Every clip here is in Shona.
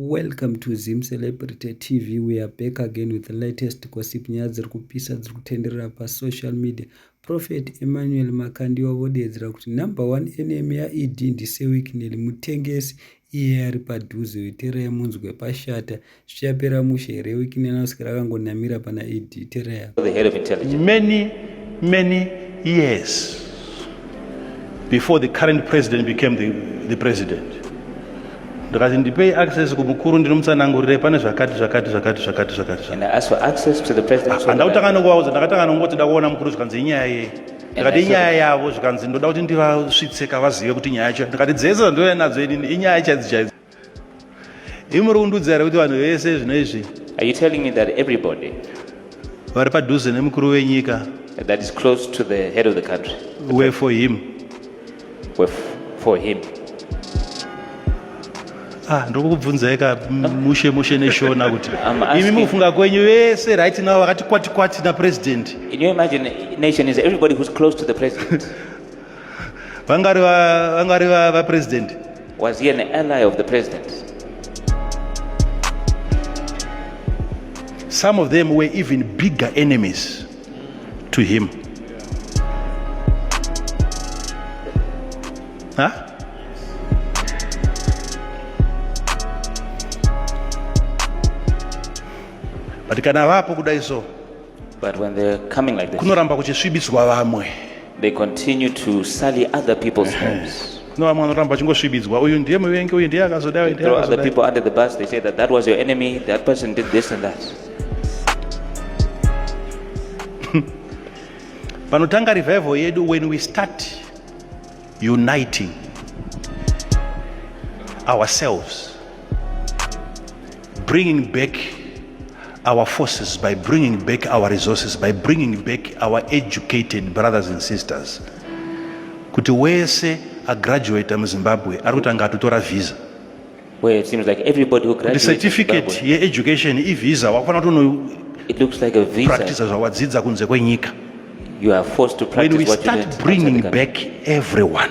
Welcome to Zim Celebrity TV. We are back again with the latest gossip nyaya dziri kupisa dziri kutenderera pasocial media. Prophet Emmanuel Makandiwa vodeedzera kuti number one enemy yaED ndisewikineli mutengesi iye ari padhuze wetereya munzwe pashata zvichapera mushe here wikineli anoswera akangonamira pana ed tereya many many years before the current president became the, the president ndikati ndipei access kumukuru ndinomutsanangurire pane zvakati zvakati zvakati zvakati zvakatihanda nokuvaudza ndakatanga nokungoti da kuona mukuru zvikanzi inyaya yei ndikati inyaya yavo zvikanzi ndoda kuti ndivasvitseka vazive kuti nyaya yacho ndikati dzese dzandouya nadzo inini inyaya chaidzo chaidzo imuri kundudza here kuti vanhu vese zvino izvi vari padhuze nemukuru wenyika were for him for him ah ndokubvunzai ka mushe mushe neshona kuti imi mufunga kwenyu vese right now vakati kwati kwati na president in your imagination is everybody who's close to the president vangari vangari va president was he an ally of the president some of them were even bigger enemies to him huh? but kana vapo kudai so but when they're coming like this kunoramba kuchisvibiswa vamwe They continue to sully other people's homes. No, vamwe vanoramba vachingosvibidzwa uyu ndiye muvengi uyu ndiye akazodai ndiye other akazodai people under the bus, they say that that was your enemy, that person did this and that. panotanga revival yedu when we start uniting ourselves bringing back our forces by bringing back our resources by bringing back our educated brothers and sisters kuti wese agraduata muzimbabwe ari kuti anga atotora visa kuti certificate yeeducation ivisa wakufanira kuti unopractisa zvawadzidza kunze kwenyika when we start bringing back everyone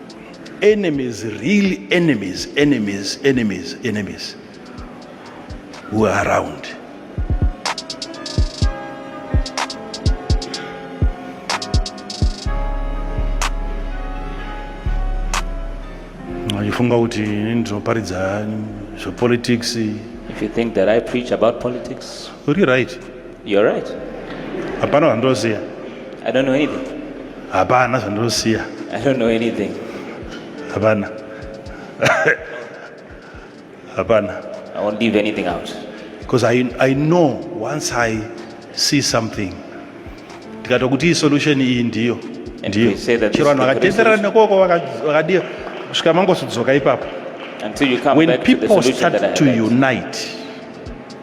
enemies real enemies enemies enemies enemies who are around achifunga kuti ini ndinoparidza zvepolitics if you think that i preach about politics uri right You're right. Hapana zvandoziva. I don't know anything. Hapana zvandoziva. I don't know anything. Hapana. Hapana. I won't leave anything out. Because I, I know once I see something ndikato kuti solution iyi ndiyo ndiyo chero vanhu vakatenderana nekoko vakadii kusvika mangosudzoka ipapo when people start to unite